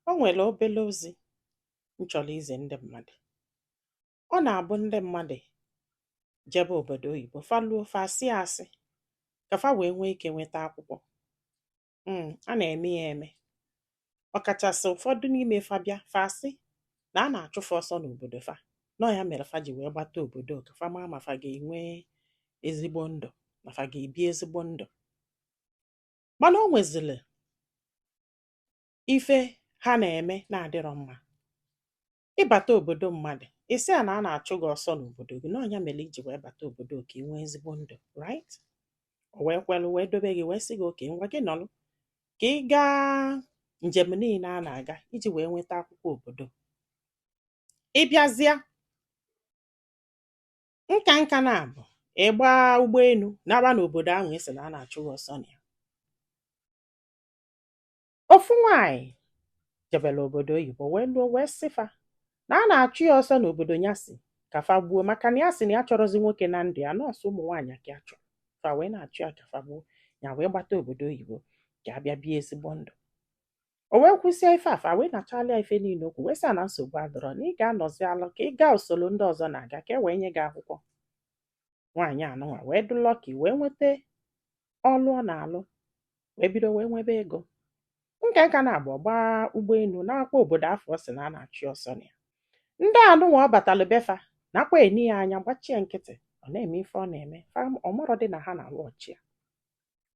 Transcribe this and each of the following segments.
O nwere obere ozi m chọrọ izi ndị mmadụ. Ọ na-abụ ndị mmadụ jebe obodo oyibo, fa luo fa asịa asị ka fa wee nwee ike nweta akwụkwọ. Mm, a na-eme ya eme. Ọkachasị ụfọdụ n'ime fa bịa fa asị na a na-achụ fa ọsọ n'obodo fa. Na ọ ya mere fa ji wee gbata obodo ka fa maa ma fa ga-enwe ezigbo ndụ, ma fa ga-ebi ezigbo ndụ. mana o nwezili ife ha na-eme na-adịrọ mma ị bata obodo mmadụ ị sị ya na a na-achụ gị ọsọ n'obodo gị na ọ nya mere i ji wee bata obodo ka ị nwee ezigbo ndụ right o wee kwelu wee dobe gị wee sị gị okay ngwa gị nọlụ ka ị gaa njem niile a na-aga iji wee nweta akwụkwọ obodo ị bịazịa nka nka na-abụ ị gba ụgbọelu naba n'obodo ahụ ị sị na a na-achụ gị ọsọ na ya ofu nwaanyị jebere obodo oyibo wee luo wee sị fa na a na-achụ ya ọsọ n'obodo ya sị ka fa gbuo maka na ya sị na ya achọrọzi nwoke na ndụ ya na ọ sọ ụmụ nwaanyị ka ya chọrọ fa wee na-achụ ya ka fa gbuo ya wee gbata obodo oyibo ka ya bịa bie ezigbo ndụ o wee kwusịa ife a fa wee nechalịa ife niile o kwu wee sị na nsogbu adụrọ na ị ga-anọzi alụ ka ị gaa usoro ndị ọzọ na-aga ka e wee nye gị akwụkwọ nwaanyị anụnwa wee dụ lucky wee nweta ọlụ ọ na-alụ wee bido wee nwebe ego nke nka na-agba gbaa ụgbọelu nakwaa obodo afụ ọ sị na a na-achụ ya ọsọ na ya ndị anụnwa ọ batalụ be fa nakwa ene ya anya gbachie nkịtị ọ na-eme ife ọ na-eme fa ọ marọ dị na a na-watch ya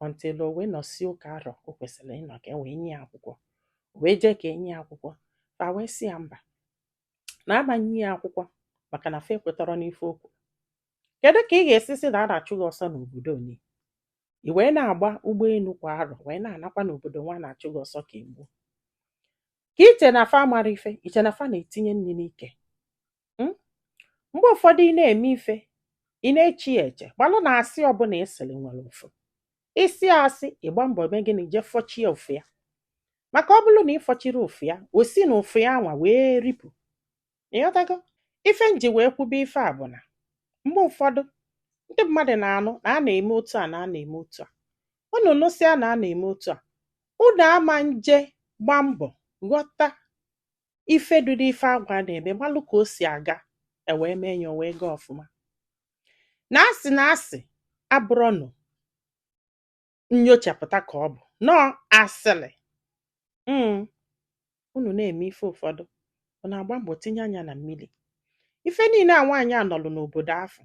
until o wee nọsịa ụka arọ o kwesịrị ịnọ ka e wee nye ya akwụkwọ o wee jee ka e nye ya akwụkwọ fa wee sị ya mba na a ma-enye ya akwụkwọ maka na fa ekwetarọ n'ife o kwuru kedu ka ị ga-esi sị na a na-achụ gị ọsọ n'obodo ngị i wee na-agba ụgbọelu kwa arọ wee na-anakwa n'obodo anwa a na-achụ gị ọsọ ka e gbuo ka i che na fa amarọ ife i che na fa na-etinye nri n'ike Hmm? Mgbe ụfọdụ ị na-eme ife, ị na-eche ya eche, malụ na asị ọbụla ị sịrị nwere ụfụ. Ị sịa asị, ị gbaa mbọ mee gịnị jee fọchie ụfụ ya. Maka ọ bụrụ na ị fọchirọ ụfụ ya, o si na ụfụ anwa wee ripụ. Ị ghọtago? Ife m ji wee kwube ife a bụ na mgbe ụfọdụ ndị mmadụ na-anụ na a na-eme otu a na a na-eme otu a. Unu nụsịa na a na-eme otu a, unu ama eje gba mbọ ghọta ife dị n'ife anwa a na-eme malụ ka o si aga e wee mee ya o wee gaa ọfụma na asị na asị abụrọnụ nyochapụta ka ọ bụ nọọ asịrị mm. unu na-eme ife ụfọdụ unu na-agba mbọ tinye anya na mmiri ife niile a nwaanyị a nọlụ n'obodo afụ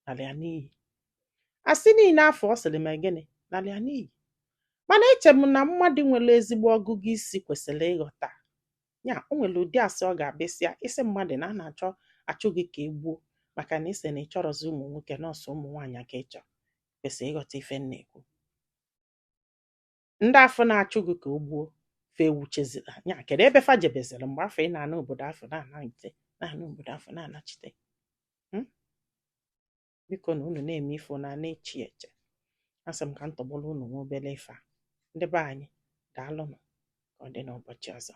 nalị ya n'iyi asị niine afụ ọ sịrị ma gịnị nalị ya n'iyi mana eche m na mmadụ nwere ezigbo ọgụgụ isi kwesịrị ịghọta ya o nwere ụdị asị ọ ga-abụ ị sịa ị sị mmadụ na a na-achọ achụ gị ka e gbuo maka na ị sị na ị chọrọzi ụmụ nwoke na ọ sọ ụmụ nwaanyị ka ị chọrọ kwesịrị ịghọta ife m na-ekwu ndị afụ na-achụ gị ka e gbuo fa ewuchezila nya kedu ebe fa jebeziri mgbe afụ ị na-ana obodo afụ na-anachite na-ana obodo afụ na-anachite Hmm? biko na unu na-eme ife unu na-eche eche asị m ka m tọgbọrọ unu nwa obele ife a ndị be anyị daalụnụ ka ọ dị n'ụbọchị ọzọ